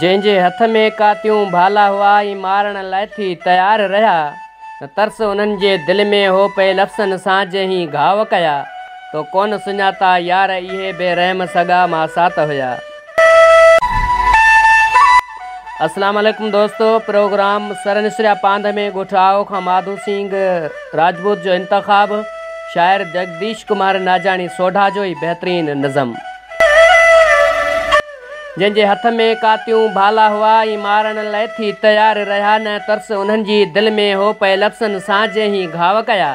جنهن جي هٿ ۾ ڪاتيون ڀالا هئا ۽ مارڻ لاء ٿي تيار رهيا ته ترس انهن جي دل ۾ هو پئي لفظن سان جنهين گهاء ڪيا تو ڪونه سڃاتا يار اهي بي رحم سڳا ماسات هيا. اسلام عليڪم دوستو پروگرام سر نسريا پانڌ ۾ ڳوٺ آئو کان ماڌو سينگ راجپوت جو انتخاب شاعر جگديش ڪمار ناجاڻي سوڍا جو ئي بهترين نظم جن جي هٿ ۾ ڪاتيون ڀالا هئا ۽ مارڻ لئي ٿي تيار رهيا نه ترس انهن جي دل ۾ هو پئي لفظن سان جي هي گهاو ڪيا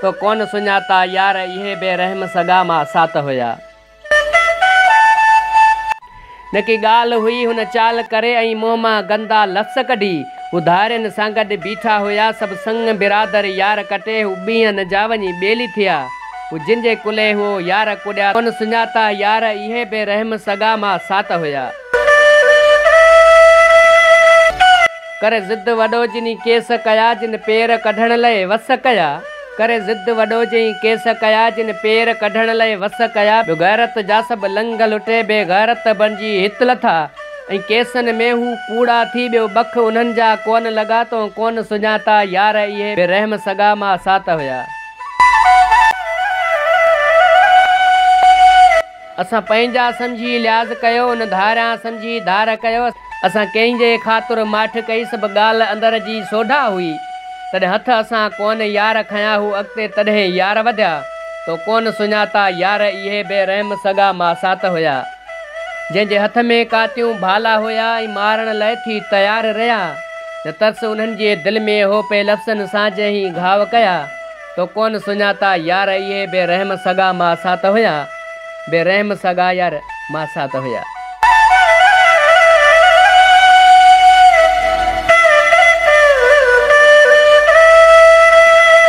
تو ڪون سڃاتا يار اهي بي رحم سڳا ما سات هيا نه ڪي ڳالهه هئي هن چال ڪري ۽ منهن مان گندا لفظ ڪڍي. هو ڌارين سان گڏ بيٺا هيا سڀ سڱ برادر يار ڪٽي هو ٻيهن جا وڃي ٻيلي ٿيا. هو جن جي ڪلهي هئو يار ڪڏيا ڪونه سڃاتا يار اهي بي رحم سڳا ماء سات هيا. ڪري ضد وڏو جني ڪيس ڪيا جن پير ڪڍڻ لئي وس ڪيا. ڪري ضد وڏو جئين ڪيس ڪيا جن پير ڪڍڻ لئي وس ڪيا به غيرت جاسڀ لنگهه لٽي بي غيرت بڻجي هت لٿا ۽ ڪيسن ۾ هو ڪوڙا ٿي ٻيو ٻک انهن جا ڪون لڳا تون ڪون سڃاتا يار اهي بي رحم سڳا ماء سات هيا. اسان پنهنجا سمجهي لحاظ ڪيو، ان ڌاريان سمجهي ڌار ڪيو. اسان ڪنهن جي خاطر ماٺ ڪئي، سڀ ڳالهه اندر جي سوڍا هئي. تڏهن هٿ اسان ڪونه يار کنيا، هو اڳتي تڏهن يار وڌيا. تو ڪونه سڃاتا يار، اهي بي رحم سڳا ماسات هيا. جنهن جي هٿ ۾ ڪاتيون ڀالا هيا ۽ مارڻ لئه ٿي تيار رهيا. نه ترس انهن جي دل ۾ هو پئي لفظن سان جنهن گهاء ڪيا. تو ڪونه سڃاتا يار اهي بي رحم سڳا ماء سات هيا بي رحم سڳا يار ماء سات هيا.